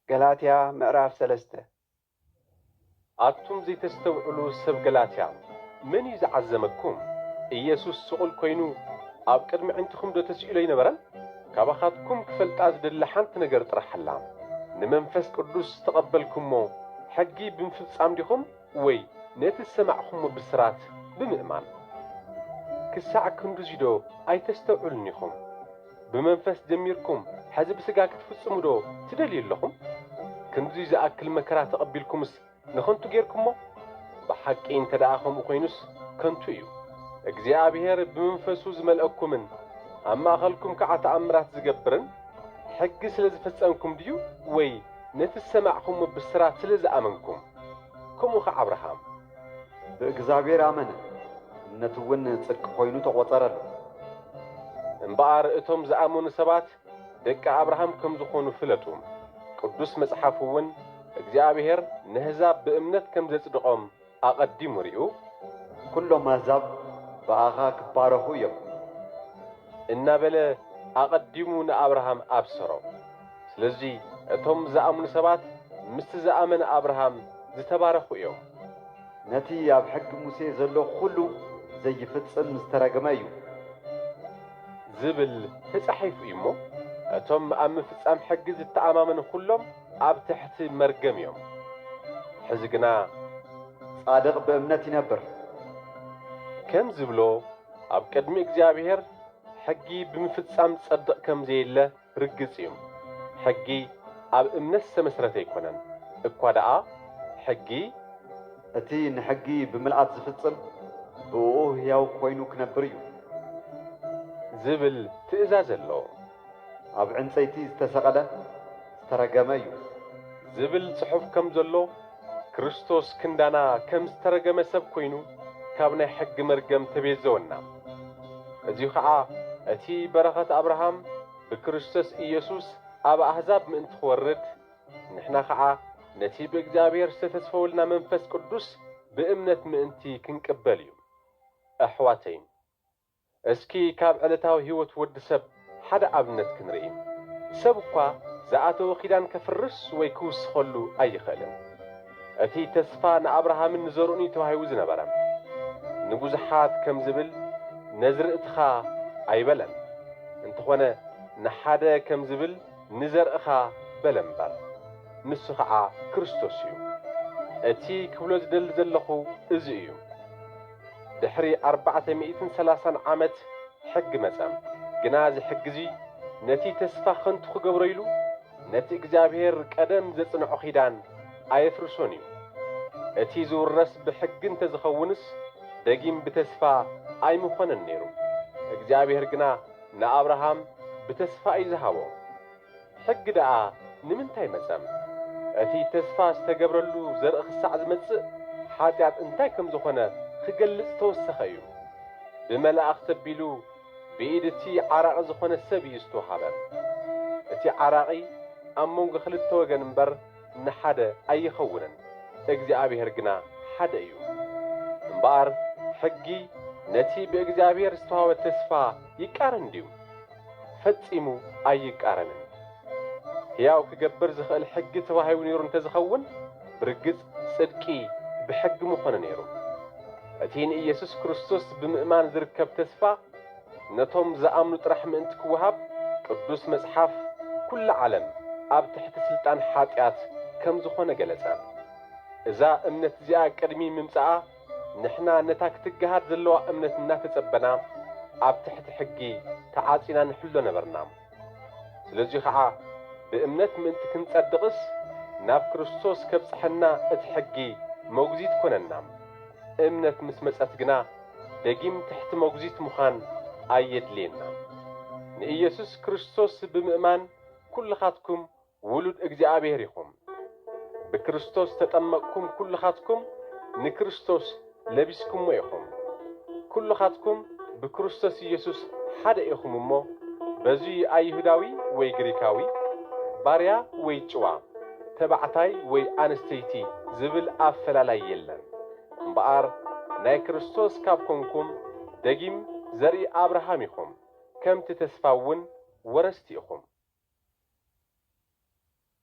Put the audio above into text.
ገላትያ ምዕራፍ ሰለስተ። ኣቱም ዘይተስተውዕሉ ሰብ ገላትያ፣ መን እዩ ዝዓዘመኩም? ኢየሱስ ስቑል ኮይኑ ኣብ ቅድሚ ኣዒንትኹምዶ ተስኢሉ ኣይነበረን? ካባኻትኩም ክፈልጣ ዝደሊ ሓንቲ ነገር ጥራሕ ኣላ፣ ንመንፈስ ቅዱስ ዝተቐበልኩሞ ሕጊ ብምፍጻም ዲኹም ወይ ነቲ ዝሰማዕኩሞ ብስራት ብምእማን? ክሳዕ ክንድዚዶ ኣይተስተውዕሉን ኢኹም? ብመንፈስ ጀሚርኩም ሐዚ ብስጋ ክትፍጽሙ ዶ ትደልዩ ኣለኹም? ክንድዚ ዝኣክል መከራ ተቐቢልኩምስ ንኸንቱ ጌርኩሞ? ብሓቂ እንተደኣ ከምኡ ኮይኑስ ከንቱ እዩ። እግዚኣብሄር ብመንፈሱ ዝመልኣኩምን ኣብ ማእኸልኩም ከዓ ተኣምራት ዝገብርን ሕጊ ስለ ዝፈጸምኩም ድዩ ወይ ነቲ ዝሰማዕኩሞ ብስራት ስለ ዝኣመንኩም? ከምኡ ኸዓ ኣብርሃም። ብእግዚኣብሔር ኣመነ፣ እምነቱ'ውን ጽድቂ ኮይኑ ተቖጸረሉ። እምበኣር እቶም ዝኣመኑ ሰባት ደቂ ኣብርሃም ከም ዝኾኑ ፍለጡ፣ ቅዱስ መጽሓፍ'ውን እግዚኣብሔር ነሕዛብ ብእምነት ከም ዘጽድቖም ኣቐዲሙ ሪኡ። ኵሎም ኣሕዛብ ብኣኻ ክባረኹ እዮም። እናበለ ኣቐዲሙ ንኣብርሃም ኣብሰሮ። ስለዚ እቶም ዝኣምኑ ሰባት ምስቲ ዝኣመነ ኣብርሃም ዝተባረኹ እዮም። ነቲ ኣብ ሕጊ ሙሴ ዘሎ ዅሉ ዘይፍጽም ዝተረግመ እዩ። ዝብል ተጻሒፉ እዩ እሞ፣ እቶም ኣብ ምፍጻም ሕጊ ዝተኣማመኑ ዅሎም ኣብ ትሕቲ መርገም እዮም። ሕዚ ግና። ጻድቕ ብእምነት ይነብር። ከም ዝብሎ፣ ኣብ ቅድሚ እግዚኣብሄር ሕጊ ብምፍጻም ዝጸድቕ ከም ዘየለ፣ ርግጽ እዩ ሕጊ ኣብ እምነት ዝተመስረተ ኣይኮነን እኳ ደኣ ሕጊ። እቲ ንሕጊ ብምልኣት ዝፍጽም ብእኡ ህያው ኮይኑ ክነብር እዩ። ዝብል ትእዛዝ ኣሎ። ኣብ ዕንጸይቲ ዝተሰቐለ ዝተረገመ እዩ። ዝብል ጽሑፍ ከም ዘሎ። ክርስቶስ ክንዳና ከም ዝተረገመ ሰብ ኮይኑ ካብ ናይ ሕጊ መርገም ተቤዘወና። እዚ ኸኣ እቲ በረኸት ኣብርሃም ብክርስቶስ ኢየሱስ ኣብ ኣህዛብ ምእንቲ ክወርድ ንሕና ኸኣ ነቲ ብእግዚኣብሔር ዝተተስፈወልና መንፈስ ቅዱስ ብእምነት ምእንቲ ክንቅበል እዩ። ኣሕዋተይን። እስኪ ካብ ዕለታዊ ህይወት ወዲ ሰብ ሓደ ኣብነት ክንርኢ። ሰብ እኳ ዝኣተዎ ኪዳን ከፍርስ ወይ ክውስኸሉ ኣይኽእልን። እቲ ተስፋ ንኣብርሃምን ንዘርኡን እዩ ተዋሂቡ ዝነበረ። ንብዙሓት ከም ዝብል ነዝርእትኻ ኣይበለን። እንተኾነ ንሓደ ከም ዝብል ንዘርእኻ በለ እምበር። ንሱ ኸዓ ክርስቶስ እዩ። እቲ ክብሎ ዝደሊ ዘለኹ እዚ እዩ። ድሕሪ ኣርባዕተ ሚእትን ሰላሳን ዓመት ሕጊ መጸ። ግና እዚ ሕጊ'ዚ ነቲ ተስፋ ኸንቱ ኺገብሮ ኢሉ፣ ነቲ እግዚኣብሄር ቀደም ዘጽንዖ ኺዳን ኣየፍርሶን እዩ። እቲ ዚውረስ ብሕጊ እንተ ዚኸውንስ፣ ደጊም ብተስፋ ኣይምዀነን ነይሩ። እግዚኣብሄር ግና ንኣብርሃም ብተስፋ እዩ ዝሃቦ። ሕጊ ደኣ ንምንታይ መጸም? እቲ ተስፋ ዝተገብረሉ ዘርኢ ክሳዕ ዝመጽእ ሓጢኣት እንታይ ከም ዝኾነ ክገልጽ ዝተወሰኸ እዩ። ብመላእኽቲ ኣቢሉ ብኢድ እቲ ዓራቒ ዝኾነ ሰብ እዩ ዝተወሃበ። እቲ ዓራቒ ኣብ መንጎ ክልተ ወገን እምበር ንሓደ ኣይኸውንን፣ እግዚኣብሔር ግና ሓደ እዩ። እምበኣር ሕጊ ነቲ ብእግዚኣብሔር ዝተዋህበ ተስፋ ይቃረን ድዩ? ፈጺሙ ኣይቃረንን። ሕያው ክገብር ዝኽእል ሕጊ ተዋሂቡ ነይሩ እንተዝኸውን ብርግጽ ጽድቂ ብሕጊ ምኾነ ነይሩ። እቲ ንኢየሱስ ክርስቶስ ብምእማን ዝርከብ ተስፋ ነቶም ዝኣምኑ ጥራሕ ምእንቲ ክወሃብ ቅዱስ መጽሓፍ ኩላ ዓለም ኣብ ትሕቲ ስልጣን ሓጢኣት ከምዝኾነ ገለጸ። እዛ እምነት እዚኣ ቅድሚ ምምጻኣ ንሕና ነታ ክትገሃድ ዘለዋ እምነት እናተጸበና ኣብ ትሕቲ ሕጊ ተዓጺና ንሕሎ ነበርና። ስለዙይ ኸዓ ብእምነት ምእንቲ ክንጸድቕስ ናብ ክርስቶስ ከብጽሐና እቲ ሕጊ መጉዚት ኮነና። እምነት ምስ መጸት ግና ደጊም ትሕቲ መጉዚት ምዃን ኣየድልየናን። ንኢየሱስ ክርስቶስ ብምእማን ኩልኻትኩም ውሉድ እግዚኣብሔር ኢኹም ብክርስቶስ ዝተጠመቅኩም ኩልኻትኩም ንክርስቶስ ለቢስኩሞ ኢኹም ኩልኻትኩም ብክርስቶስ ኢየሱስ ሓደ ኢኹም እሞ በዙይ ኣይሁዳዊ ወይ ግሪካዊ ባርያ ወይ ጭዋ ተባዕታይ ወይ ኣንስተይቲ ዝብል ኣፈላላይ የለን እምበኣር ናይ ክርስቶስ ካብ ኮንኩም ደጊም ዘርኢ ኣብርሃም ኢኹም ከምቲ ተስፋ እውን ወረስቲ ኢኹም።